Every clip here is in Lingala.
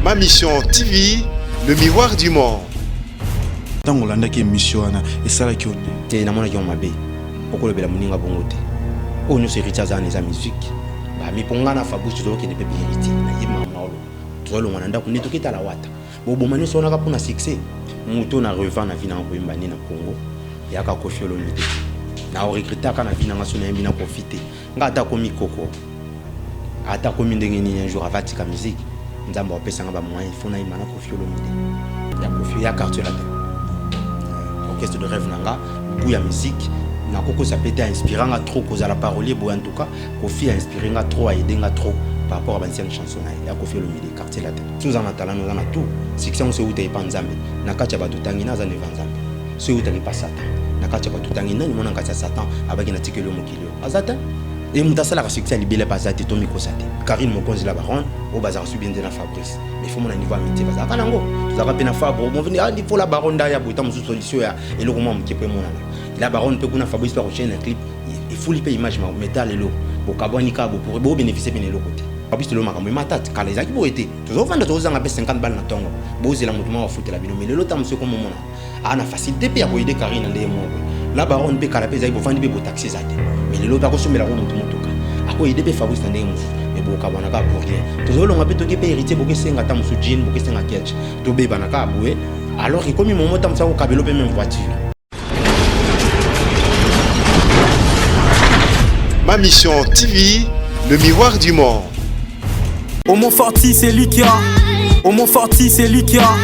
Ma Mission TV, le miroir du monde. ntango olandaki emission wana esalaki yo nini te namonaki yango mabe okolobela moninga bongo te oyo nyonso héritier aza wana eza musique bamipo ngai na fabrice tozokende mpe héritier naye mama oloba tozolongwa na ndako nde toketala wata boboma nyonso wanaka mpo na succès moto na revant na vi nanga koyemba nde na congo yaka kofi olomide na oregretaka na vi nanga so nayembi na kofi te Nga ata akomi koko ata akomi ndenge nini un jour ava tika musique nzambe apesa nga ba moyen fo nayima na kofi olomide ya kofi ya quartier latin orchestre de rêve na nga gout ya musique nakokosa mpe te ainspira nga trop kozala parolier boye en tout cas kofi a inspire nga trop aide nga trop par rapport à ba ancienne chanson na ye ya kofi olomide quartier latin so oza na talent oza na tout succès yango so euta epa nzambe na kati ya bato otangi na aza neva nzambe so eutaki epa satan na kati ya bato otangi nani mwana na kati ya satan abaki na tikeli yo mokili aza te e moto asalaka succès ya libele mpe aza te to mikosa te karine mokonzi la baronne oyo bazalaka soki biende na fabrice mais fo mona niveau ya mitie bazalaka nango tozalaka mpe na fabro moveni andi ah, fo la baronne nda ya boye ntango mosusu solution ya eloko mwa moke mpo emonana la baronne mpe kuna fabrice mpe akochaine na clip efuli mpe image ma metal eloko bokabwani kaka bopore bobeneficie mpe na eloko te fabrice telo makambo emata kala ezalaki boye te tozofanda tozozanga mpe 50 bale na ntongo bozela moto mwa bafutela bino me lelo ntango mosusu ekomomona a na facilité mpe ya koyede carine na ndenge moko la baronne mpe kala mpe ezali bovandi mpe botaxi eza te mais lelo mpe akosombela ko motu motuka akoyede mpe fabrice na ndenge mosusu mais bokabwana kaka pour rien tozolonga mpe toki mpe héritier bokesenga ata mosusu jean bokesenga kelch tobebana kaka boye alors ekomi momo ta mosusu akokabelo mpe meme voiture Ma Mission TV, le miroir du monde. Homo Forti, c'est lui qui a. Homo Forti, c'est lui qui a.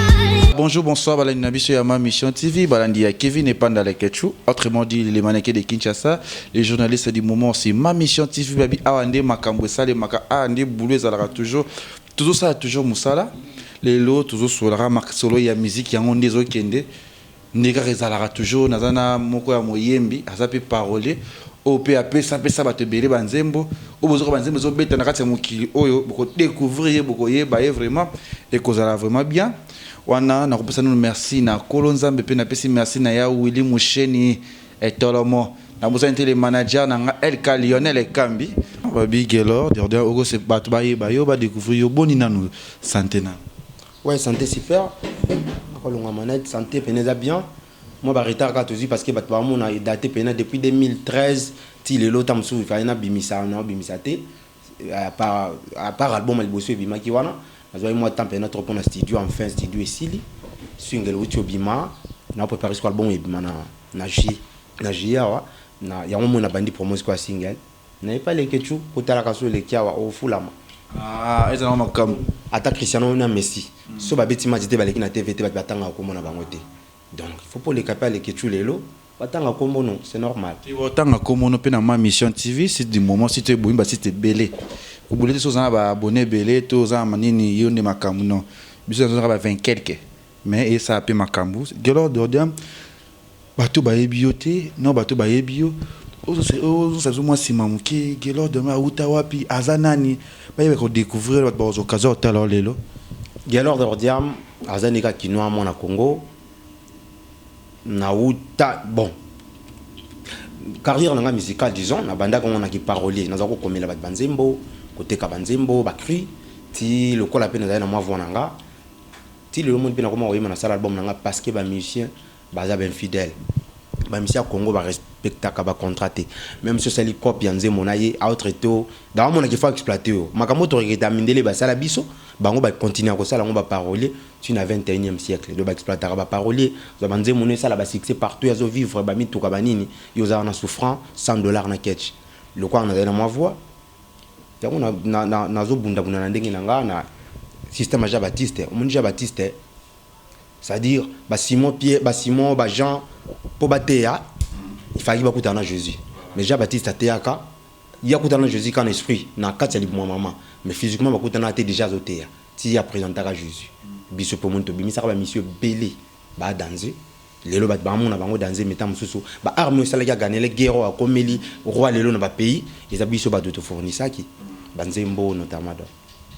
Bonjour, bonsoir, balandi na biso ya ma mission TV, balandi ya Kevin et Panda Leketchou, autrement dit les mannequins de Kinshasa, les journalistes du moment aussi. Ma mission TV, babi awande makambo esale maka awande boulot ezalaka toujours, toujours ça toujours musala. Lelo toujours solara mak solo ya musique yango nde ezokende. Nde kaka ezalaka toujours naza na moko ya moyembi aza pe parolier oyo pe apesa pesa batu ebele ba nzembo oyo bozoyoka ba nzembo ezo beta na kati ya mokili oyo boko decouvrir ye boko yeba ye vraiment ekozala vraiment bien wana nakopesa nanu merci na kolo nzambe pe napesi merci na ya Willy Musheni Etolomo nabosani te le manager na nga LK Lionel Ekambi Babi Guelor Durden oko se batu ba yeba yo ba decouvrir yo boni nanu sante nanu. Ouais sante super akolonga manette sante pene eza bien mwa ba retard kaka tozwi parce que bato baomona edate pena depuis 2013 ti lelo ta mosusu fai nabimisa naobimisa te apart album ya liboso ebimaki wana nazwaki mwa temps pena trop mpona studio enfin studio esili swing eleuti obima na prepare siko album ebima na na juillet awa na yango moi nabandi promo siko ya single Na epai leketshou ko talaka so oleki awa o fulama. Aah eza nango makambu. Ata Cristiano na Messi soki ba beti match te baleki na TV te batu ba tangaka kombo na bango te donc il faut po leka pe ya leketshou lelo ba tanga kombo no c'est normal. Te ba tanga kombo no pe na ma mission TV site du moment site oyo ebomi ba site ebele ko bule te soki oza na ba abonne ebele to oza na nini yo nde makambu non biso nazo zalaka ba 20 quelques. Mais esa pe makambu Guelor Dordium bato bayebi yo te non bato bayebi yo ozo sazo mwa sima muke Guelor Dordium awuta wapi aza nani bayeba ko decouvrir bato bazo kaza otala yo lelo. Guelor Dordium aza nde kaka kinois mwana Congo na wuta bon carrière na nga musicale disons na bandaki yango na ki parolier naza ko komela bato ba nzembo koteka ba nzembo ba cris ti lokola pe nazali na mwa voix na nga Ti lelo moni pe na koma koyemba na sala album na nga parce que ba musiciens baza ba infidèles. Ba musiciens ya Congo ba respectaka ba contrats te. Meme si osali cop ya nzembo na ye a autre to ba ko mona ke faut a exploiter yo. Makambo oyo to regretta mindele ba sala biso bango ba continuer ko sala yango ba paroliers ti na 21 siècle. Donc ba exploitaka ba paroliers. Ozua ba nzembo no esala ba succès partout azo vivre ba mituka ba nini yo oza wana souffrant sans dollars na ketch. Lokola nazali na mwa voix. Yango na, na, na, nazo bunda bunda na ndenge na nga na système ya Jean Baptiste. Omoni Jean Baptiste, c'est-à-dire ba Simon Pierre, ba Simon, ba Jean, po bateya il fallait bakutana na Jésus. Mais Jean Baptiste ateyaka ye akutana na Jésus kaka na esprit na kati ya libumu ya mama, mais physiquement bakutana te, dejà azoteya ti a presentaka Jésus. Biso pe omoni tobimisaka ba misio ebele ba danze. Lelo batu ba mona bango danze meta mususu ba arme oyo esalaki aganele guerre oyo akomeli roi lelo na ba pays eza biso batu to fournissaki ba nzembo oyo notamment donc.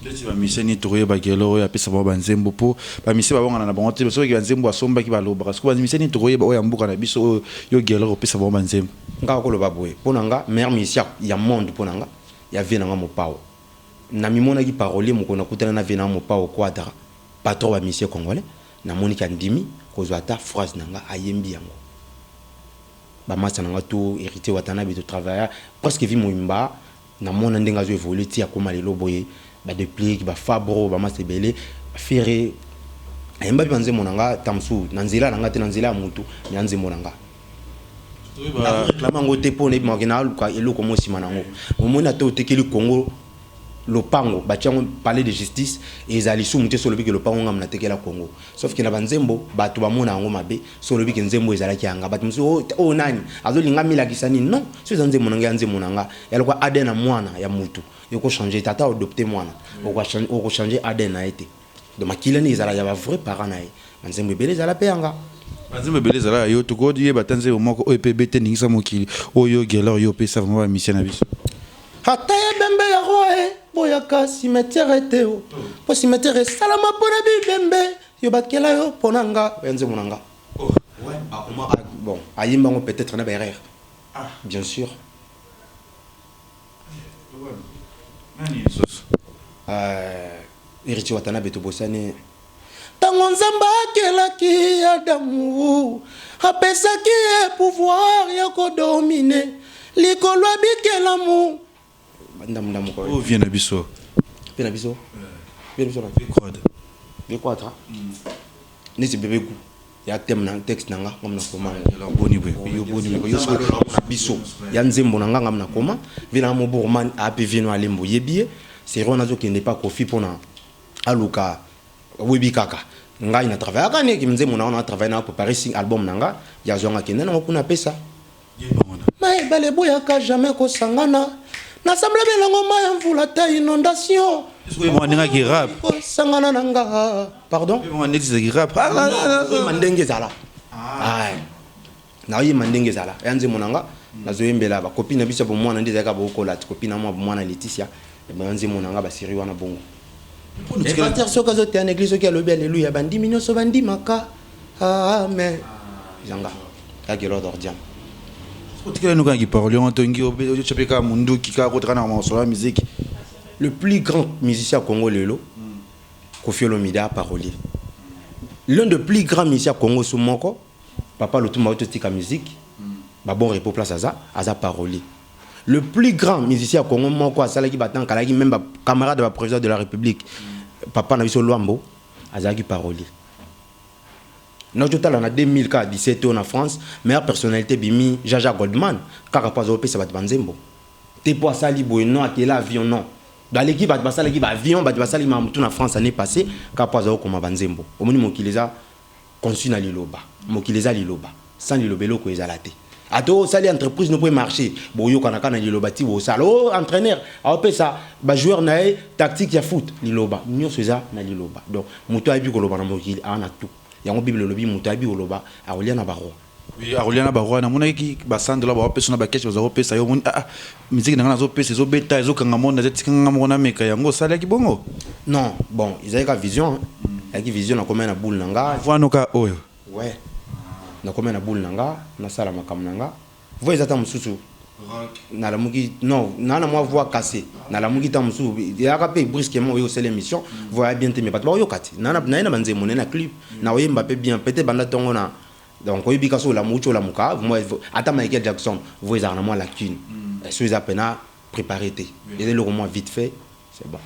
Ndeti ba musiciens nini tokoyeba ba guerre oyo apesa bango ba nzembo po ba musiciens ba wangana na bango te mais soki ba nzembo asombaki ba lobaka sikoyo ba musiciens nini tokoyeba oyo ya mboka na biso oyo yo guerre opesa bango ba nzembo. Nga nako loba boye pona nga meilleur musiciens ya monde pona nga ya vie na nga mopao na mimonaki parolier mokolo na kutana na vie na nga mopao quadra patron ba musiciens congolais Na moni ke andimi kozwa ata phrase na nga ayembi yango ba masta na nga tout Heritier Watanabe to travailla presque vie moimba na mona ndenge azo evoluer ti akoma lelo boye ba Deplick ba Fabro ba masta ebele Ferre ayemba pe ba nzembo na nga temps mosusu na nzela na nga te na nzela ya mutu mais a nzembo na nga na reclame yango te po na yebaka ke na luka eloko moko sima na yango omoni ata otekeli Congo lopango batia ngo palais de justice ezala lisumu te soki olobi ke lopango nga natekela congo sauf ke na ba nzembo batu bamona yango mabe soki olobi ke nzembo ezalaki ya nga batu mosusu oyo oh, oh, nani azolinga amilakisa nini non soki eza nzembo na nga ya nzembo na nga ya lokola adn ya mwana ya mutu eko changer tata odopte mwana oko changer adn na ye te Donc makila nde ezala ya ba vrai parents na ye. Ba nzembo ebele ezala pe ya nga. Ba nzembo ebele ezala ya yo. Toko yeba ata nzembo moko oyo epa ebeta eningisa mokili oyo yo Guelor yo opesa vraiment ba musiciens na biso. Ata ya ebembe ya roi e boyaka cimetiere te o po cimetiere e salama pona bibembe yo ba kela yo pona nga oya nzembo na nga. Bon ayemba ngo peut etre na ba erreur bien sur. Heritier Watanabe tobosani ntango Nzambe akelaki Adamu apesaki ye pouvoir ya kodomine likolo ya bikelamu vie na biso vie na biso vie na biso na vie croître vie croître neti bebe gout ya thème na texte na nga nga mna koma ngo boni bwe yo boni bwe yo solo na kuna biso ya nzembo na nga nga mna koma vina mo borman api vino alembo yebie sero na zo kende pa kofi pona aluka webi kaka ngai na travailler kani ki nzembo na nga na travailler na ko paris album na nga ya zonga kende na kuna pesa Mai ebale eboyaka jamais kosangana nasamble belango mai ya mvula ta inondation andengaki rap kosangana na nga pardon andekisaki rap ah, ah, ah, ndenge ezala naoyema ndenge ezala ya nzembo na nga nazoyembela bakopi na biso ya bomwana nde ezalaka bokola ti kopi na mwa bomwana leticia ebaya nzembo na nga baseri wana bongo epater soki azoteya na eglise soki alobi aleluya bandimi nyonso bandimaka Ah mais yanga ya gelo dordiam otikela nuka ki parole on tongi obedo chope ka munduki ka ko tana ma solo musique le plus grand musicien Congo lelo Koffi Olomide a parolier l'un de plus grand musicien Congo sous moko papa Lutumba oto tika musique ba bon repos place aza aza parolier le plus grand musicien Congo moko asalaki ba temps kalaki même ba camarade ba président de la république papa na biso Luambo azalaki parolier Nazo tala na 2000 kaka 17 oyo na France meilleure personnalite ebimi Jaja Goldman kaka po azo pesa batu ba nzembo te po asali boye non akela avion non baleki batu basalaki ba avion batu basali makambo tout na France annee passe kaka po azo koma ba nzembo omoni mokili eza conçu na liloba mokili eza liloba. Sans liloba eloko ezala te. Ata osali entreprise no po e marcher, boyokana kaka na liloba ti bosala. Oh entraineur aopesa ba joueurs na ye tactique ya foot, liloba. Nionso eza na liloba. Donc mutu ayebi koloba na mokili aa na tout. Yango bible elobi mutu ayebi koloba akolia na ba rois. Oui akolia na ba rois. Namonaki ba 100 dollars baopesa yo na ba cash baza kopesa yo omoni ah ah musique na ngai nazo pesa ezo beta ezo kanga monde naza tika ngai moko na meka yango osalaki bongo? Non bon ezalaki kaka vision hein. Ezalaki vision nakomaki na boule na ngai. Avant no kaka oyo. Ouais nakomia na boule na nga nasala makambo na nga voix eza tango mosusu nalamuki non naa na mwa voix casse nalamuki tango mosusu eyaka mpe brusquement oye osala emission voix eya bien te mais bato bakoyoka te naye na banzembo naye na clip nakoyemba mpe bien peut-être banda tongo na donc oyebi kasi olamu uti olamuka ata Michael Jackson voix ezalaka na mwa lacune soki eza pena prepare te eza eloko mwa vite fait C'est bon.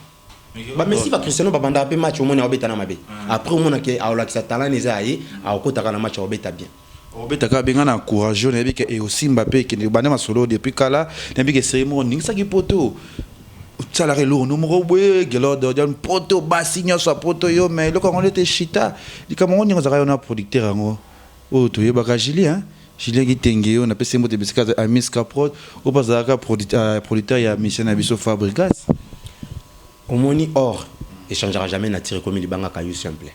Ba Messi ba Cristiano ba bandaka pe match omoni aobeta na mabe. Après omona ke aolakisa talent eza ya ye, aokota kaka na match aobeta bien. Obeta kaka bien nga na encourage yo nayebi ke eosimba pe ekende banda masolo oyo depuis kala nayebi ke serie moko oningisaki poto osalaka elokono moko boye gelord odian poto basi nionso ya poto yo mais eloko yango nde te shita likambo yango ndenge ozalaka yo na producteur yango oyo toyebaka Julie hein Julien Kitenge oyo napesi ye mbote bisika azali, Amis Caprod, oyo mpe azalaka producteur ya musicien na biso Fabrigas. Omoni or echangeaka jamais nature ekomi libanga caillou simple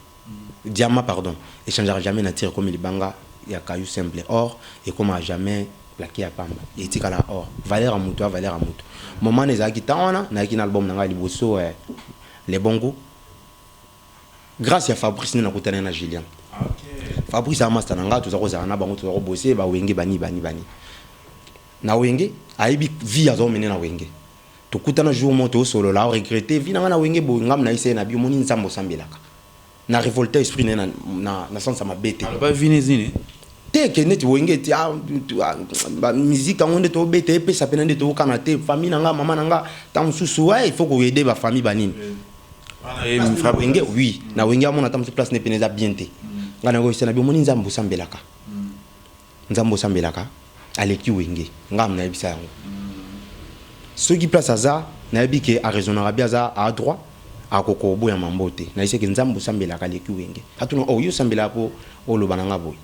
diamant pardon echangeaka jamais nature ekomi libanga ya caillou simple or ekomaka jamais plaquer ya pamba etikalaka or valeur ya mutu ya valeur ya mutu moment ezalaki temps wana nayaki na album na ngai liboso eh, le bon gout Grace ya Fabrice nde nakutani na Julian. Fabrice a masta na nga toza kozala na bango toza ko bosser ba wenge bani bani bani. Na wenge ayebi vie azo mener na wenge. Tokutana jour moko to solo la regretter vie na nga na wenge boye ngam na ise na bi omoni nzambe osambelaka. Na revolta esprit na na na sens ya mabe te. Aloba vie nez nini? Te ke neti wenge ti a ba musique yango nde to beta epesa pena nde to kana te famille na nga maman na nga tango susu il faut ko aider ba famille ba nini. Eh, fra wenge oui na wenge amona ata mosu place ne pene eza bien te ngai nakoyisa na biomoni nzambe osambelaka nzambe osambelaka aleki wenge ngai nayebisa yango soki place aza nayebi ke araisonnaka bi aza a droit akoka oboya mambo te nayebisa ke nzambe osambelaka aleki wenge atuna o oh, yo osambelaka mpo oloba na ngai boye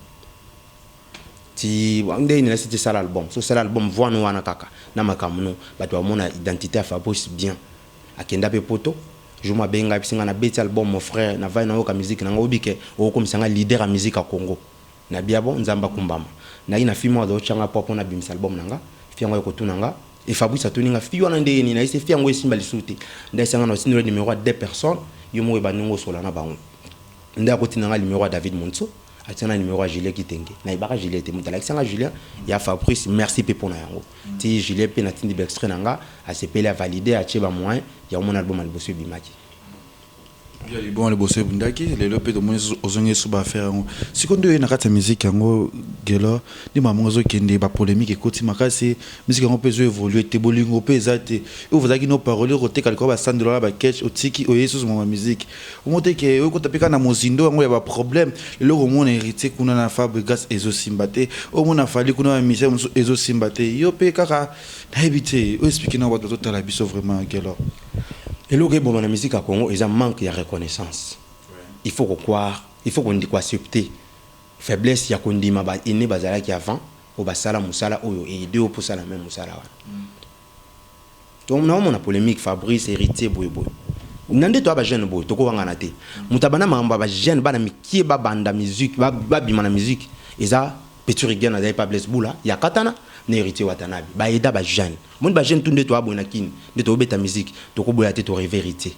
ti nde nini nasi ti sala album so sala album voix no wana kaka na makambo no bato bamona identité ya fabrice bien Akenda pe poto jour moko abengi ngai apesi ngai na beti album mon frère na vandi na yoka musique na nga oyebi que oko komisa ngai leader ya musique ya congo na bi ah bon nzambe akumbama na ye na fille moko azo tia ngai poid pona abimisa album na nga fille yango aye kotuna nga et fabrice atuni nga fille wana ndenge nini na yebisi ye fille yango esimba lisusu te nde ayebisa nga na otindi yo numero ya deux personnes yo moko oyeba ndenge osola na bango nde akotinda nga numero ya david monso Atia na numero ya Julien kitenge na yebaka Julien te mutu alakisa nga Julien ya Fabrice merci pe pona yango ti Julien pe na tindi ba extrait na nga asepeli a valide atie ba moyen yango omoni album ya liboso ebimaki. Oui album ya liboso ebundaki lelo pe tomoni lisusu ozongi lisusu ba affaire yango sikoyo nde oye na kati ya musique yango Guelor nde makambo yango ezo kende ba polemique ekoti makasi musique yango pe ezo evolue te bolingo pe eza te oyo ozalaki no parolier oko teka likolo ya ba 100 dollars na ba ketch otiki oye lisusu makambo ya musique Omote ke oyo kota peka na mozindo yango ya ba problème lelo komona heritier kuna na fabrigas ezo simba te omona fali kuna ba misère mosusu ezo simba te yo pe kaka nayebi te o explique na bato bazotala biso vraiment gelor Eloko eboma na musique ya Congo eza manque ya reconnaissance. Il faut ko croire, il faut ko ko accepter faiblesse ya ko ndima ba aines bazalaki avant oyo basala musala oyo e aider yo mpe osala meme musala wana. Donc nao mona polemique Fabrice, Heritier boye boye na nde toa ba jeune boye toko wangana te mutu abanda makambo ya ba jeune bana mikie ba banda musique ba bima na musique eza petit rigueur na zali epa Blaise bula ya katana na Heritier watanabe ba aida ba jeune omoni ba jeune tout nde toa boye na kin nde toko beta musique toko boya te to reve Heritier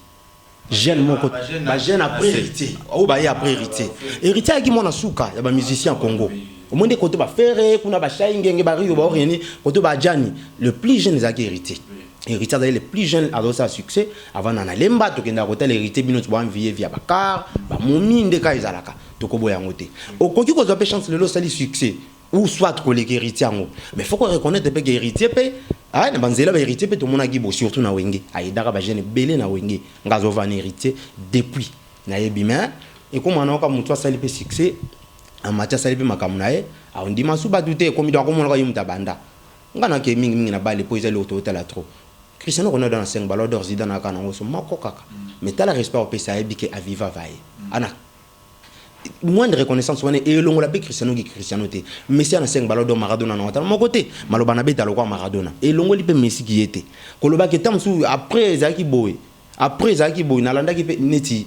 jeune moko ba jeune après héritier oyo baye après héritier héritier ayaki mwana suka ya ba musicien ya congo omoi nde kote bafere kuna bashai ngenge bario baorieni kote baajani le plus jeune ezalaki héritier héritier azali le plus jeune azosala succès avanda na lemba tokendaka kotala héritier bino boanviye via bacar bamomi nde kaka ezalaka tokoboya yango te okoki kozwa mpe chance lelo osali succès ou soit koleka héritier yango mais faut ko reconnaître mpe ke héritier mpe aye na banzela ba héritier mpe tomonaki bo surtout na wenge ayedaka bajeune ebele na wenge nga azova na héritier depuis nayebi mais ekoma nayoka motu asali mpe succès amati asali mpe makambo na ye aondima su bato te ekomi do akomonaka ye moto abanda nga nake mingi mingi na bale mpo ezali oto otala trop Cristiano Ronaldo na 5 ballon d'or Zidane aka nango so moko kaka mais tala respect opesa ayebi ke aviva vaye ana moindre reconnaissance wana elongola mpe Cristiano ki Cristiano te. Messi ana 5 ballon d'or Maradona na ata moko te. Maloba na beta lokola Maradona elongoli mpe Messi ki ye te. Koloba ke tango mosusu après ezalaki boye après ezalaki boye nalandaki mpe neti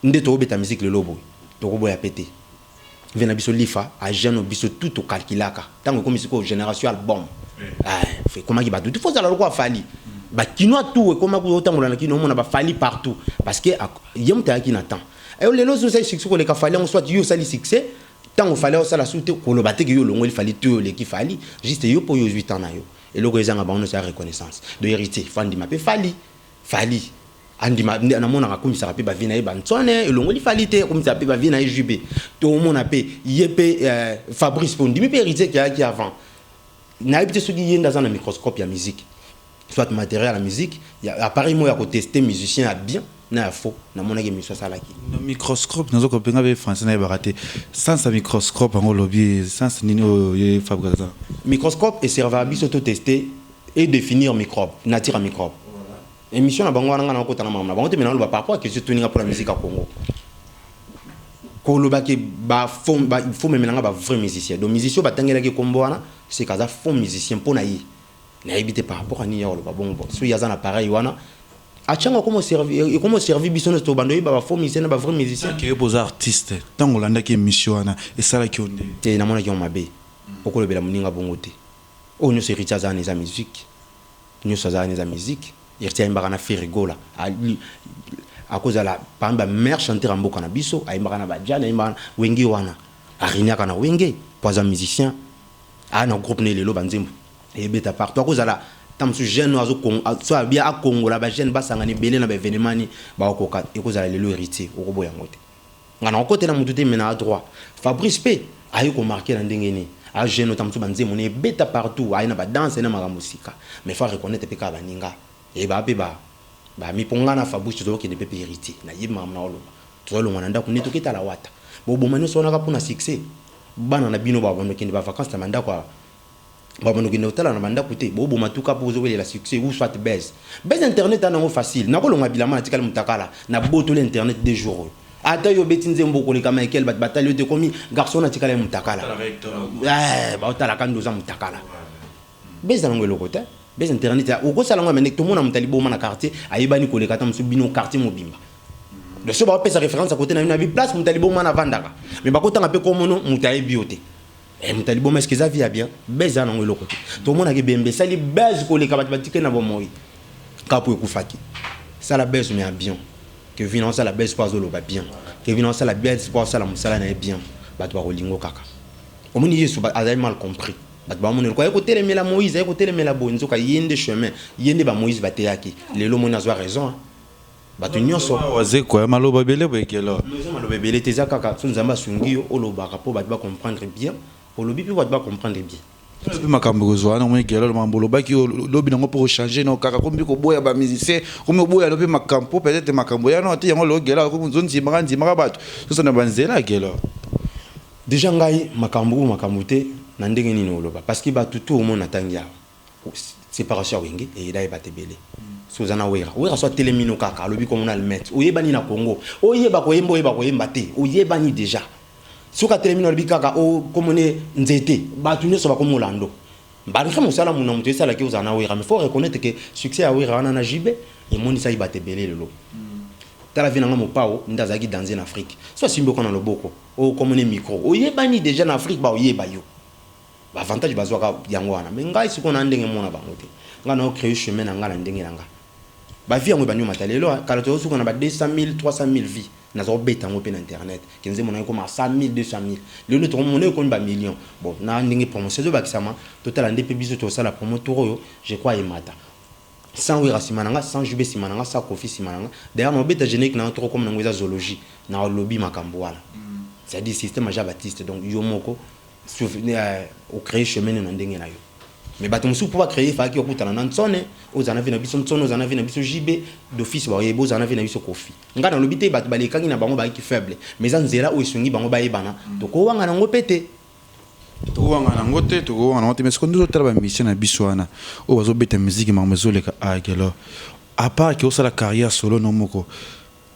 nde toko beta musique lelo boye toko boya mpe te. Vie na biso Lifa a jeune oyo biso tout to calculaka tango ekomi sikoyo generation album eh ekomaki batu tout faut ozala lokola Fally ba kinois tout ekomaki otambola na kin omona ba Fally partout parce que ye moto ayaki na temps Ayo lelo ozo sali succès ko leka fali yango soit yo sali succès tango fali azo sala sute ko loba te ke yo longoli fali to yo leki fali juste yo po yo zui temps na yo eloko ezanga bango nioso ya reconnaissance do heritier fo andima pe fali fali andima na mona ka kumisa ka pe ba vie na ye ba nsone elongoli fali te kumisa pe ba vie na ye jube to mona pe ye pe euh, fabrice po ndimi pe heritier ki a ki avant na ye pe soki ye nda za na microscope ya musique soit materiel ya musique ya appareil moko ya ko tester musicien ya bien na ya faux namonaki emission asalaki Na microscope nazo kope nga be français nayebaka te sens ya microscope yango olobi sens nini oyo ye Fabregas aza na microscope e servaka biso to tester e definir microbe nature ya microbe emission na bango wana nga nakokota na makambo na bango te mais naloba par rapport ya question etuni nga mpo na musique ya Congo koloba ke ba fond ba il faut omemela nga ba vrai musicien donc musicien oyo batangelaki ye nkombo wana seke aza fond musicien mpo na ye Nayebi te par rapport à nini ya koloba bongo bon. Soki aza na pareil wana achango akomo servir ekomo servir biso nyo to bando yeba ba faux musiciens na ba vrais musiciens. Ke boza artiste tango olandaki emission wana esalaki yo ndenge. Te namonaki yango mabe okolobela muninga bongo te oyo nyoso heritier aza wana eza musique nyoso aza wana eza musique heritier ayembaka na ferre gola akozala parmi ba meilleur chanteur ya mboka na biso ayembaka na ba djany ayembaka na wenge wana areniaka na wenge po aza musicien Aza na groupe naye lelo ba nzembo ebeta partout akozala tango mosusu jeune oyo soit abia akongola ba jeune basangana ebele na ba evenement ni bakokoka ekozala lelo heritier okoboya yango te nga nakokotela mutu te mais naa droit Fabrice pe aye ko marquer na ndenge nini aza jeune oyo tango mosusu ba nzembo naye ebeta partout aye na ba danse aye na makambo sika mais faut a reconnaitre pe kaka baninga eyebaka pe ba ba mipongana Fabrice tozokende pe pe heritier nayebi makambo naoloba Tozo longwa na ndaku nde toke tala wata? Bo boma nionso wana kaka pona succès? Bana na bino ba bando kende ba vacances na ba ndaku ya ba bando kende kotala na ba ndaku te? Bo boma tout kaka po bozo welela succès ou soit buzz? Buzz internet eza nango facile nako longa bilamba na tikali mutakala na botoli internet deux jours oyo ata yo obeti nzembo oko leka Michael batu ba tali yo te okomi garçon na tikala mutakala eeh bao tala ka nde oza mutakala. Beza nango eloko te beza internet ya okosala ngo mende tomona muta liboma na quartier ayebani koleka ata musu bino quartier mobimba donc so bapesa reference ya kote na bino abi place muta liboma na vandaka mais bakotanga pe komono muta ayebi yo te eh, muta liboma eske eza via bien beza nango eloko te tomonaki bembe esali base koleka bato batike na bomoi kapo ekufaki sala base mais ya bien kevin aosala base po azoloba bien kevin aosala base po asala mosala na ye bien bato bakolingo kaka omoni yesu azali mal compris Bato ba moneloko aye kotelemela moise aye kotelemela boye nzoka ye nde chemin ye nde ba moise bateyaki lelo omoni azua raison hein bato nionso. Vraiment wazekwa eh maloba ebele boye quelle heure. Non eza maloba ebele te eza kaka soki nzambe asungi yo olobaka po bato ba comprendre bien olobi pe bato ba comprendre bien. Tala pe makambo ekozua wana omoni guelor makambo olobaki oyo lobi nango pe okochanger non kaka okomi pe koboya ba musiciens okomi oboya lobi makambo po peut etre makambo eya note yango lelo guelor akomi ozondimaka ndimaka bato soso na ba nzela guelor. Dejà ngai makambu ou makambu te na ndenge nini oloba parce que batu tout omoni na tangi awa separation ya wenge eyeda ye batu ebele soki oza na werra werra so atelemi no kaka alobi kombo na almet oyebani na congo oyeba koyemba oyeba koyemba te oyebani dejà soki atelemi no alobi kaka o oh, kombo ne nzete batu nionso bakomi olando malgré mosala muna moto esala ki ozala na werra mais faut reconnaître que succès ya werra wana na jibe emonisaki batu ebele lelo tala vie na nga mopao nde azalaki danze na afrique so asimbi okona loboko Oyo kombo ne micro oyebani dejà na Afrique bao yeba yo ba avantage bazwaka yango wana mais ngai sikoyo na ndenge mona bango te ngai nao cree chemin na ngai na ndenge na ngai ba vie yango ebandi omata lelo hein kala tozo suka na ba 200000 300000 vie nazao beta yango pe na internet ke nzembo na ekoma 100000 200000 lelo nde toko mona ekomi ba millions bon na ndenge promotion ezo bakisama totala nde pe biso tosala promo tour oyo je crois emata Sans werra sima na nga sans JB sima na nga sans koffi sima na nga d'ailleurs nao beta generique na yo toko koma na ngo eza zoologie nao lobi makambu wana c'est à dire système aja Baptiste donc yo moko o cree chemin no na ndenge na yo mais batu mususu po ba cree efalaki okutana na Nsone ozala na vie na biso Nsone ozala na vie na biso JB d'office ba oyebi ozala na vie na biso koffi nga na lobi te batu ba lekaki na bango ba yaki faible mais eza nzela oyo esungi bango ba yebana toko wangana ngo pe te Tokowanga nango te tokowanga nango te mais sikoyo nde ozotala ba musiciens na biso wana oyo bazobeta musique makambo ezoleka ah Guelor à part que osala carrière solo no moko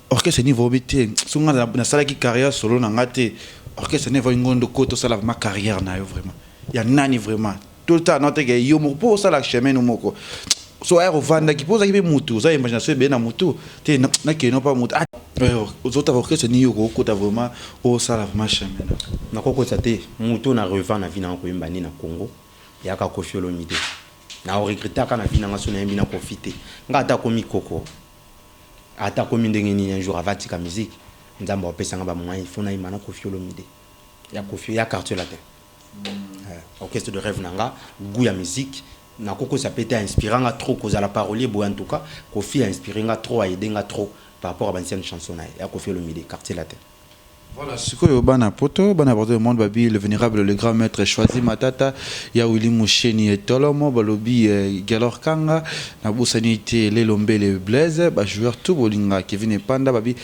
orchestre ni vobi te soki nga nasalaki carrière solo na nga te orchestre ni vobi ngondo ko tosala vraiment carrière na yo vraiment ya nani vraiment To ta na teke yo moko po osala chemin no moko. So air ovandaki po ozaki pe mutu oza imagination ebele na mutu te na ke no pa mutu. Ah ozo ta orchestre ni yo ko kota vraiment osala vraiment chemin na yo. Na ko kota te mutu na revant na vie na nga ko yemba ni na Congo yaka Koffi Olomide. Na o regretta ka na vie na nga so na yembi na Koffi te. Nga ata akomi koko ata akomi ndenge nini un jour ava tika musique nzambe ako pesa nga ba moyen il faut na yemba na Koffi Olomide ya Koffi ya quartier latin. orchestre de reve na nga gout ya musique na ko kosa pe te a inspira nga trop ko zala parolier boye en tout cas koffi a inspire nga trop a aide nga trop par rapport ya ba ancienne chanson na ye ya koffi olomide quartier latin. Voilà sikoyo bana poto bana partout le monde ba bi le venerable le grand maitre choisi matata ya willy musheni et tolomo ba lobi guelor kanga na bosani te lelo mbele blaise ba joueur tout bolinga kevine panda ba bi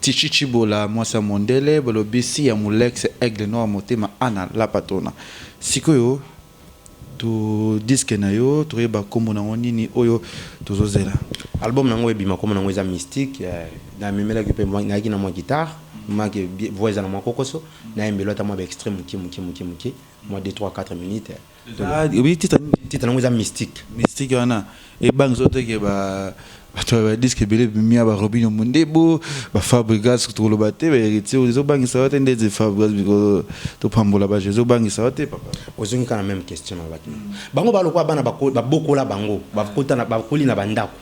Tytshi Tshibola mwasi ya mondele balobi si ya mulex aigle noir motema Anna la patrona sikoyo to disque na yo toyeba kombo na yango nini oyo tozo zela. Album na nga oyo ebima kombo na yango eza mystique na memelaki pe nayaki na mwa guitare mwa ke voix eza na mwa kokoso na yembelo ata mwa ba extrait mukie mukie mukie mukie mwa deux trois quatre minutes. Oui, titre titre nango eza mystique. Mystique wana ebangi soki teke ba bato ba disque ebele bimia ba Robinho Mondebo, ba Fabregas tokoloba te ba heritier oyo ezobangisa yo te ndeti Fabregas bikolo topambola ba jeux ezobangisa yo te papa. Ozongi kaka na meme question nalobaki na yo. Bango ba lokola bana babokola bango bakota na bakoli na ba ndako.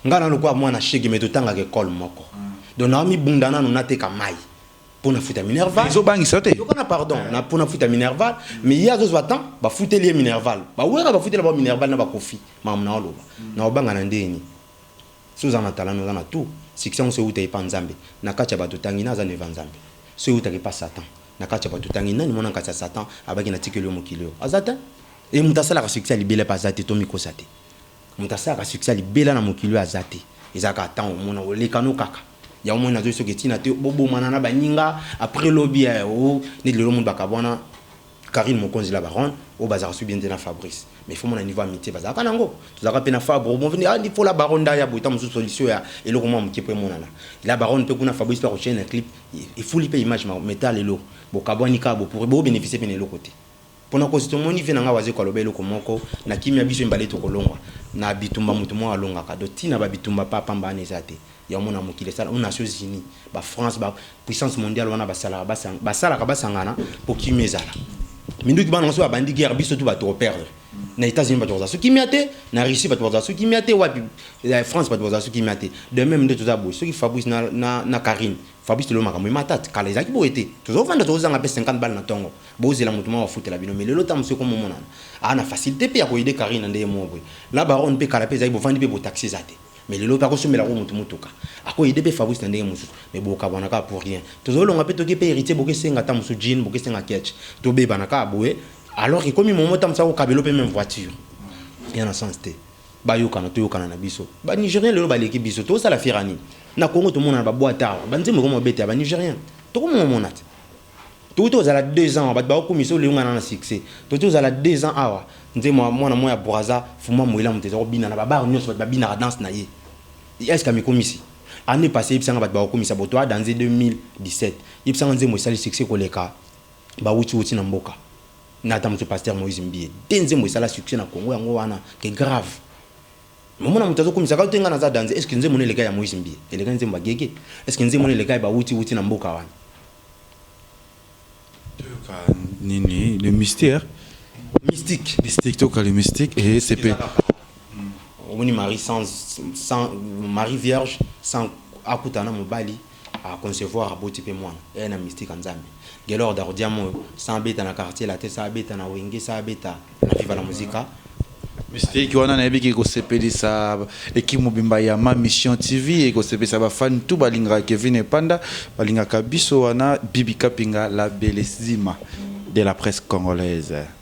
Nga na lokola mwana shege mais totangaka ecole moko donc naomibunda nanu nateka mayi. mpo na futa minerval ezobangisa yo te yoka na pardon eh. na mpo na futa minerval mais ye azozwa temps bafuteli ye minerval bawera bafutela bao minerval na bakofi mamu na oloba mm. na obanga na ndenge nini so oza na talana oza na tour succès yango so euta epa nzambe na kati ya bato otangi na aza neva nzambe so eutaka epa satan na kati ya bato otangi nani mwana kati ya satan abaki na tikeli yo mokili oyo aza te e moto asalaka succès ya libela epa aza te tomikosa te Moto asalaka succès ya libela na mokili oyo aza te. Eza kaka temps omona oleka no kaka. Yango omoni nazo soki etina te bo bomana na baninga après lobi eh oh neti lelo omoni ba kabuana Carine Mokonzi la baronne oyo bazalaka soki bien te na Fabrice mais il faut omona niveau amitie bazalaka nango. Tozalaka pe na Fabro bon ah il faut la baronne nde aya boye tango mosusu solution ya eloko mua moke po emonana. La baronne pe kuna Fabrice pe ako chaine na clip efuli pe image mais ta lelo bo kabuani kaka bo pourri bo beneficier pe na eloko te. Pona kosi tomoni vie na nga wazekwa aloba eloko moko na kimia biso mibale toko longwa na bitumba mutu moko alongaka donc tina ba bitumba pa pamba wana eza te ya omona mokili esala ou nations unies ba France ba puissance mondiale wana ba salaka ba sanga ba salaka ba sangana po kimia ezala minduki bana soki ba bandi guerre biso tout ba toko perdre na etats unis ba toko za soki kimia te na Russie ba toko za soki kimia te wapi France ba toko za soki kimia te de meme nde toza boye soki Fabrice na na na Carine Fabrice lelo makambo emata te kala ezalaki boye te tozo vanda tozo zanga pe 50 balles na tongo bozela mutu moko afutela bino mais lelo tango mosusu ekomi omonana aza na facilite pe ya ko aider Carine na ndenge moko boye la baronne pe kala pe ezalaki bovandi pe bo taxi eza te mais lelo pe ako sombela ko mutu mutuka ako aider pe Fabrice na ndenge mosusu mais bo kabwana kaka pour rien tozo longa pe toke pe Heritier boke senga tango mosusu jean boke senga ketch to bebana kaka boye alors que ekomi moment tango mosusu ako kabela yo pe meme voiture eza na sens te. Bayokana toyokana na biso. Ba Nigeriens lelo baleki biso. Tozosala fier ya nini? Na Congo tomonana ba boite awa. Ba nzembo ekoma kobeta ya ba Nigeriens. Tokomomona te. Towuti kozala deux ans awa. Bato bakokumisa yo lelo nga naza na succès. Towuti kozala deux ans awa. Nzembo ya mwana moko ya Brazza, Fuma Muela moto eza kobina na ba bar nionso. Bato babinaka danse na ye. Est ce que amikomisi? Annee passee yebisa nga bato bakokumisa boto adanze 2017. Yebisa nga nzembo esali succès koleka ba wuti wuti na mboka. Nga ata muke pasteur Moïse Mbiye te nzembo esala succès na Congo yango wana que grave mais omona mutu azo kumisa kaka te nga naza danze est ce que nzembo nayo eleka ya Moïse Mbiye eleka nzembo ya Gege est ce que nzembo nayo eleka ya ba wuti wuti na mboka wana toyoka nini le mystère mystique mystique toyoka le mystique et eh, c'est omoni Marie sans sans Marie vierge sans akutana mobali A concevoir aboti pe mwana eeh na mystique ya nzambe Guelord Ardiam oyo sans abeta na quartier latin sans abeta na wenge sans abeta na viva la musica Mystique wana nayebi ke ekosepelisa equipe mobimba ya ma mission TV et ekosepelisa ba fans tout balingaka Kevin Epanda balingaka biso wana Bibi Kapinga la bellesima de la presse congolaise.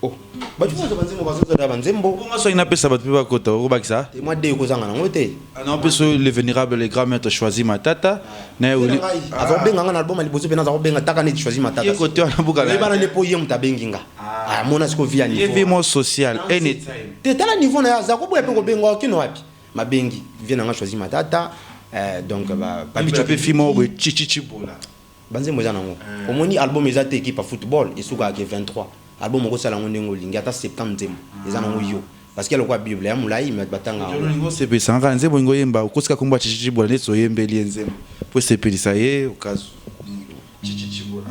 Oh, bato nyonso banzembo bazozala banzembo bongo soki napesa bato mpe bakota okobakisa te mwa de okozanga nango te non mpe so le vénérable grand maître choisi matata na ye oli aza kobenga nga na album ya liboso mpe naza kobenga taka neti choisi matata Ye kote wana buka na ye. oyebana nde mpo ye moto abengi nga amona siko vi ya ye vie niveau mo social anytime te tala niveau na ye aza koboya mpe kobenga okino wapi mabengi vie na nga choisi matata eh, donc ba- Papi Bicho mpe Chobi- fimo boye chichichibola Ba nzembo eza nango omoni album eza te equipe ya football esukaka ke 23 album okosala yango ndenge olingi ata 70 nzembo eza nango yo parce que eza lokola bible eza mulayi mais batu batangaka yango. Odion olingi osepelisa nga kaka nzembo olingi oyemba okosi kaka kombo ya Tshitshi Tshibola neti oyembeli ye nzembo po esepelisa ye okazu Tshitshi Tshibola.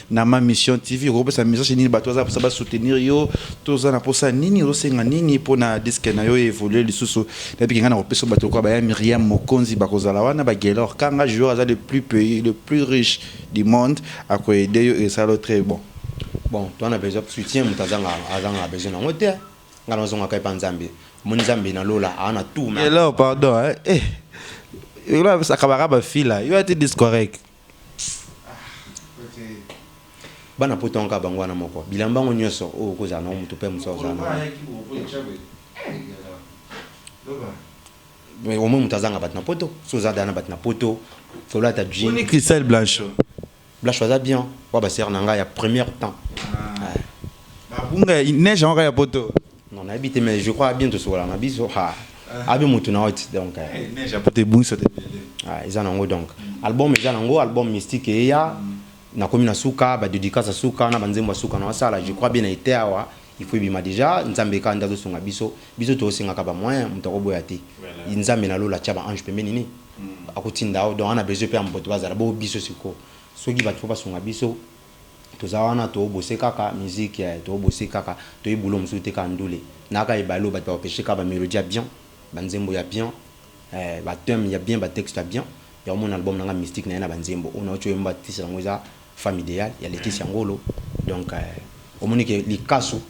Na ma mission TV okoki kopesa message nini batu baza na posa ba soutenir yo to oza na posa nini ozo senga nini pona disque na yo e evoluer lisusu na bike nga nako pesa yo batu lokola ba ya Miriam Mokonzi bako zala wana ba Guelor Kanga joueur aza le plus pays le plus riche du monde ako aider yo e sala yo tres bon. Bon toza na besoin soutien mutu azanga azanga besoin nango te nga nazo zonga kaka epa Nzambe omoni Nzambe na lola aza na tout mais. Guelor pardon hein eh yo la sakabaka ba fille la yo ati discorec. Bana poto yango kaka bango wana moko bilamba yango nioso oyo oko zala nango mutu pe mususu ako zala nango mais au moins mutu azanga batu na poto soki oza deja na batu na poto kolata jean Boni Christelle Blanchot Blanchot aza bien oyo ba soeur na nga ya première temps ba bunga neige yango kaka ya poto Non nayebi te mais je crois bien tosokola na biso ha abi mutu na oti donc eh, eh neige apoto ebungiso te bele ah eza na ngo donc mm. album eza na ngo album mystique eya mm. nakomi na suka ba dédicace suka na banzembo suka na wasala je crois bien na ete awa il faut ebima déjà nzambe ka ndazo sunga biso biso to singa ka ba moyen mutu ko boya te nzambe na lola tia ba ange pembeni ni mm. akotinda donc ana besoin pe ya moto bazala bo biso siko soki bato fo basunga biso Toza wana to bose kaka musique eh to bose kaka toyebi boulot mosusu te kaka ndule naka ebale oyo batu ba repeche kaka ba melodie ya bien ba nzembo ya bien eh ba thème ya bien ba texte ya bien ya omona album nanga mystique naye naba nzembo oyo nauti oyemba titre yango eza femme ideale ya Laetitia ngolo donc eh omoni ke likasu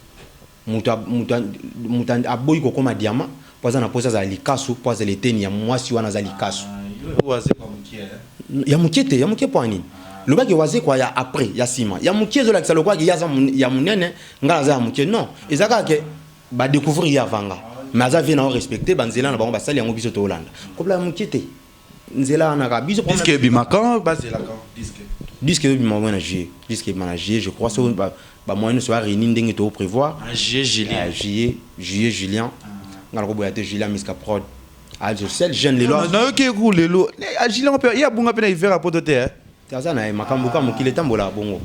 Moto a, moto a, moto a, aboyi kokoma diama mpo aza na mposa azala likasu, mpo azala eteni ya mwasi wana aza likasu. Ya mokie te, ya mokie mpo ya nini? Loba ke wazekwa ya après, ya sima. Ya mokie ezolakisa lokola ke ye aza ya monene, ngai aza ya mokie. Non, eza kaka ke ba decouvrir ye avant nga. Mais aza vie na yo respecte, ba nzela na bango basali yango biso toolanda. Kobla ya mokie te. nzela wana kaka biso disque ebima quand bazela quand disque disque ebima mwana juillet disque ebima na juillet je crois so ba ba moyens nyonso ba réunir ndenge to prévoir en juillet julien eh, juillet juillet julien ah. ngala ko boya te julien miska prod ah je seul jeune lelo ah, na yo ke ku lelo a ah, julien pe ya bunga pe na hiver a poto te hein eh. aza na ye makambo ka mokili tambola bongo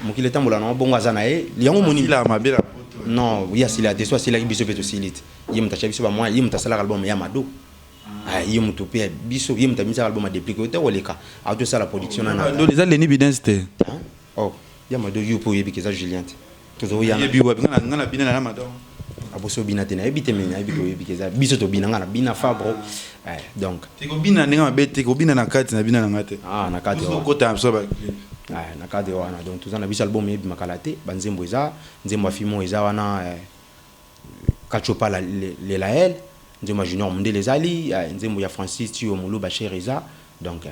mokili tambola na bongo aza na ye yango moni la mabe la non ya sila te so sila biso pe to silite ye mutacha biso ba moyens ye mutasalaka album ya mado Ah ye mutu pe ya biso ye mutu abimisa album ya deplick oyo te koleka auto sala production na nanga. Ndoli eza Lenny Bidens te. Hein? Oh ya mado yo pe oyebi ke eza Julien te. Tozo yana. Nayebi wapi nga nga na bina na ya mado. Ah boso bina te nayebi te mais nayebi ke oyebi ke eza biso tobina nga na bina fabro eh donc. Te kobina ndenge mabe te kobina na kati na bina na nga te. Ah na kati ozo kota biso ba clip. Eh na kati wana donc toza na biso album ebima kala te ba nzembo eza nzembo ya fimon eza wana eh. Katshopa la lelael nzembo junior mundele eza li nzembo ya Francis tio muluba cher eza donc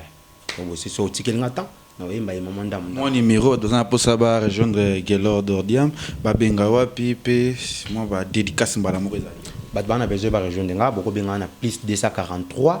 bongo si so otikeli nga temps na oyemba ye maman ndamu ndamu. Mua numero toza na posa ba rejoindre Guelord Ordiam ba benga wapi pe mua ba dedicace mbala moko ezali. Batu bana besoin ba rejoindre nga boko benga nga na plus 243.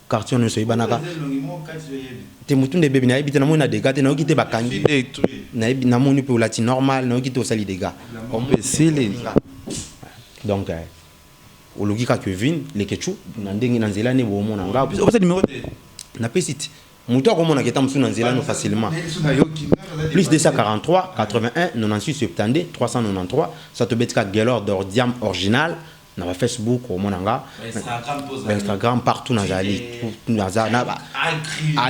Carton nioso eyebanaka te mutu nde ebebi nayebi te namoni na degat te nayoki te bakangi nayebi namoni pe olati normal nayoki te osali degat esili donc oloki ka Kevin leketshou na ndenge na nzela ne bomona nga opesa numero te na pesi te mutu akomona ke ta musu na nzela no facilement plus 243 81 96 72 393 soit obeti ka Guelor d'or diam orginal na ba Facebook okomona nga ba Instagram partout nazali naza na ba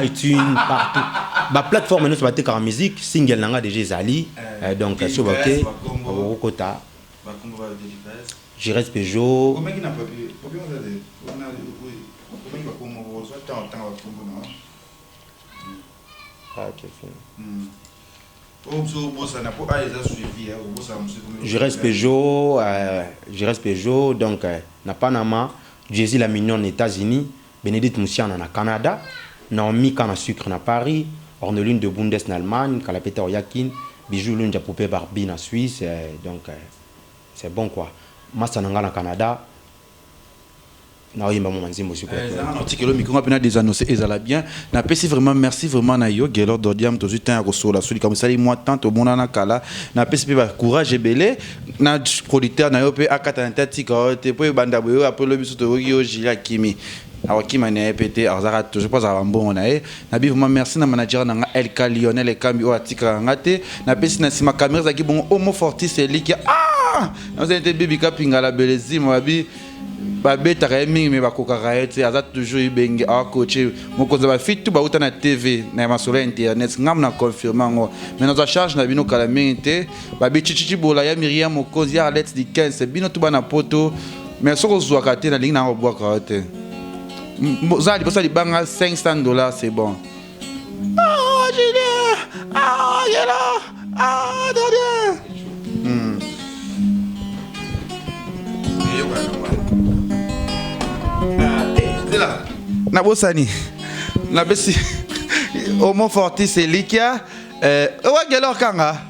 iTunes partout ba plateforme nyonso batekaka musique single na nga déjà ezali eh, donc so bake okokota Jerez Peugeot Ah, quel film. Mm. Giresse Peugeot, Giresse Peugeot, donc na Panama, Jessy la Mignonne na Etats-Unis, Benedite Musiana na Canada, Naomi Canne à Sucre na Paris, Orneline de Bundes na Allemagne, Kalapeta au Yakin, Bijoux Lunja Poupee Barbie na Suisse, donc c'est bon quoi. Masta na nga na Canada. naoyemba mwa nzembo sikoyotikelo miko nga mpe na desanose ezala bien napesi vraiment merci vraiment na yo gelor dodiam tozwi temps ya kosola so likambo esali mwa temps tomonana kala napesi mpe bacourage ebele na producteur na yo mpe akata na te atika yo te mpo ebanda boye oyo apres lobi so toyoki yo jili akimi akokima na ye mpe te azalaka toujours mpo azala bambongo na ye Na bi vraiment merci na manager na nga LK Lionel Ekambi oyo atikaka nga te. Na pesi na sima camera ezalaki bongo Homo Fortis Elikia. Ah! Na zali te bibi kapinga la belezima babi babetaka ye mingi me bakokaka ye te aza toujours ibenge akoce mokonzi ya bafitu bauta na tv na ya masolo ya internet ngambo na confirme yango me nazwa charge na bino kala mingi te babicicici bola ya miria mokonzi ya arlete dikens bino tuba na poto me soki ozwaka te nalingi na yango obwaka yo te oza na liboso ya libanga 500 dollars c'est bon ah, Julien, ah, Angela, ah, Daniel. Hmm. nabosani nabesi homo fortis elikia eh, owagelor kanga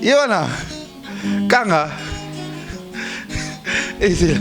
ye wana kanga ezela